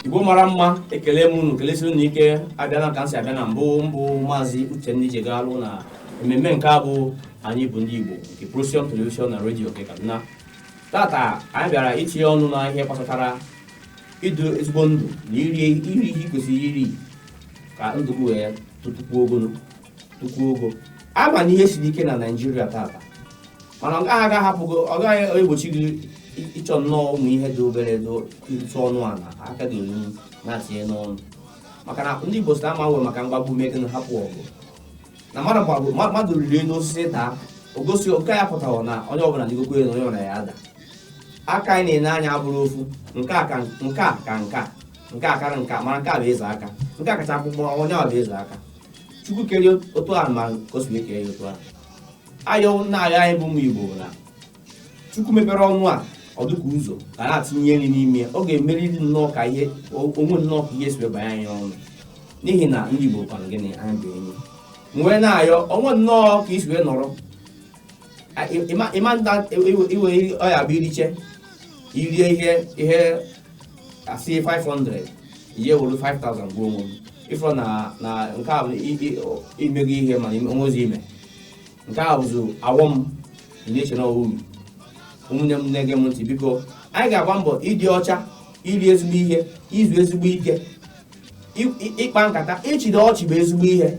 igbo mara mma ekele m unu kelesie unu ike abịana ka m si abịa na mbụ m bụ maazị uchenna ijegalụ na ememme nke a bụ anyị bụ ndị igbo nke procyon telivishọn na redio nke kaduna tata anyị bịara itinye ọnụ na ihe gbasatara ịdụ ezigbo ndụ na iri iri ihe ị kwesịrị iri ka ndụ gị wee totukwuo ogologo nnukwu ụgwọ ama na ihe siri ike na naijiria tata mana ọ gaghị aga hapụgo ọ gaghị egbochi gị ị- ịchọ nnọọ ụmụ ihe dị obere dị ntụ ọnụ ana aka gị olu na-atinye n'ọnụ maka na ndị igbo sị ama nwe maka mgbagbu mee gịnị hapụ ọgụ na mmadụ gbagbu ma- mmadụ rịrị elu osisi daa o gosi oke ya pụtara na onye ọbụla rịgokwa elu onye ọbụla ya ada aka anyị na-ene anya abụrọ ofu nke a ka nke a ka nke a nke a karị nke a mana nke a bụ eze aka nke a kacha mkpụmkpụ onye a bụ eze aka chukwu kere otu ahụ ma ka o si ekere ya otu ahụ ayọ na-ayọ anyị bụ ụmụ igbo na chukwu mepere ọnụ a ọ dịka ụzọ a na-atụnye nri n'ime ya ọ ga-emeriri nnọọ ka ihe o nwe nnọọ ka ihe si wee banye anyị ọnụ n'ihi na ndị igbo kwanụ gịnị anyị bụ enyi nwee na-ayọ onwe nnọọ ka i si wee nọrọ ịma nta iwe ọ ya bụ iriche irie ihe ihe asị 500 i were 5000 gwọọ onwe m ị fụrụ na na nke a bụ i- i- o- i mego ihe mana ime- o nwezi ime nke a bụzi awọ m na-eche na uru ụmụnne m na-ege m ntị biko anyị ga-agba mbọ ịdị ọcha iri ezigbo ihe izu ezigbo ike ị- ị- ịkpa nkata ịchịda ọchị bụ ezigbo ihe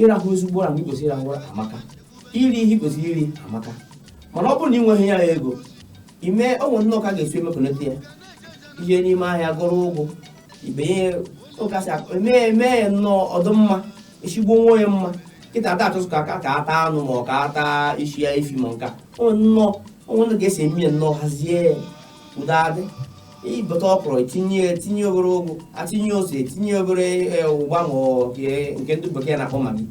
ịrahụ ezigbo ụra mgbe ị kwesịrị ịrahụ ụra amaka iri ihe ị kwesịrị iri amaka mana ọ bụrụ na ị nweghị ya ego ime o nwe nnọọ ka a ga-esi emekọnata ya i je n'ime ahịa goro ugu i benye ụkazị eme eme ya nnọọ ọ dụ mma esigbo nwa onye mma kịta ada achọzị ka aka ka ata anụ ma ọ ka ata isi ya efi ma nka o nwe nnọọ o nwe nnọọ ka esi eme ya nnọọ hazie ya udo adị i bute ọkwụrụ etinye etinye obere ugu atinye ose etinye obere e, ụgba ma ọ nke nke ndị bekee na-akpọ magi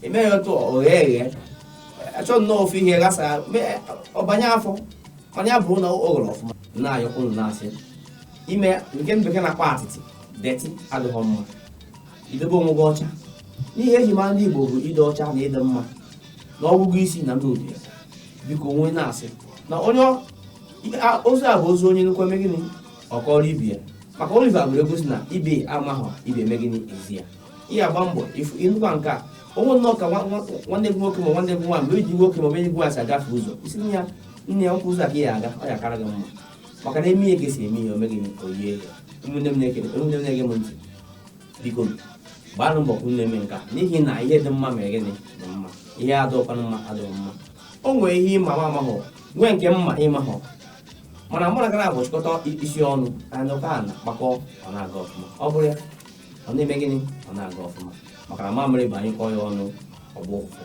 emee ya otu o ghee eghe a chọọ nnọọ ofu ihe ghasa mee- ọ banye afọ mana ya bụrụ na o ghere ọfụma na-ayọ unu na-asị ime nke ndị bekee na-akpọ atịtị dirty adịghị mma idobe onwe gị ọcha na ihe e ji mara ndị igbo bụ ịdị ọcha na ịdị mma na ọgụgụ isi na ndị ọbịa biko onwe na-asị na onye ọ- A- ozi a bụ ozi onye nụkwa eme gịnị ọ kọọrọ ibe ya maka oliver gụrụ egwu sị na ibe amaghọ ibe eme gịnị ezi ya ị ga-agba mbọ ị fụ ị nụkwa nke a o nwe nnọọ ka nwa- nwa- nwanne gị nwoke ma nwanne gị nwaanyị ma enyi gị nwoke ma enyi gị nwaanyị si agafe ụzọ ị sị nne ya nne ya nkwụ ụzọ a ka ya aga ọ ya kara gị mma maka na eme ihe ka esi eme ihe o mee gịnị o yie ya ụmụnne m na-ekele ụmụnne m na-ege m ntị biko gbaanụ mbọ ka unu na-eme nke a n'ihi na ihe dị mma mere gịnị dị mma ihe adịkwanụ mma adịghị mma o nwere ihe ị ma m amahụ nwee nke m ma ị mahụ mana mụ na gị naabọ chịkọta isi ọnụ anyị ụka a na-akpakọ ọ na-aga ọfụma ọ bụrụ ya ọ na-eme gịnị ọ na-aga ọfụma maka na mamịrị bụ a nyụkọọ ya ọnụ ọ gbọọ ụfụfụ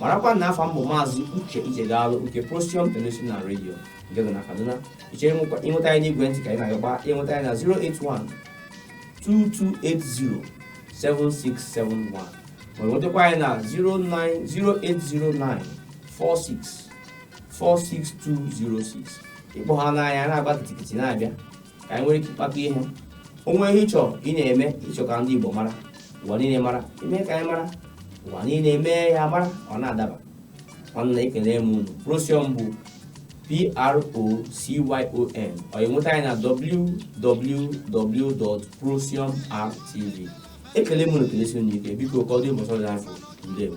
marakwa na afa m bụ maazị uche ichegaalụ nke Procyon television redio nke dị na kaduna ị chọrọ nwekwa- ịnweta anyị n'igwe ntị ka anyị na-agakwa ịnweta anyị na 081 2280 7671 ma nwetakwa anyị na 08094646206 ị kpọọ ha anyị na-agba kitikiti na-abịa ka anyị nwere ike ịkpakọ ihe o nwee ihe ị chọ ị na-eme ị chọ ka ndị Igbo mara ụwa niile mara i mee ka anyị mara ụwa niile mee ya mara ọ na-adaba nwanne ekele m unu Procyon bụ p-r-o-c-y-o-n ọ enweta anyị na www.procyonrtv ekele m unu kelesie unu ike biko ka ọ dị mbọsị dị afọ ndewo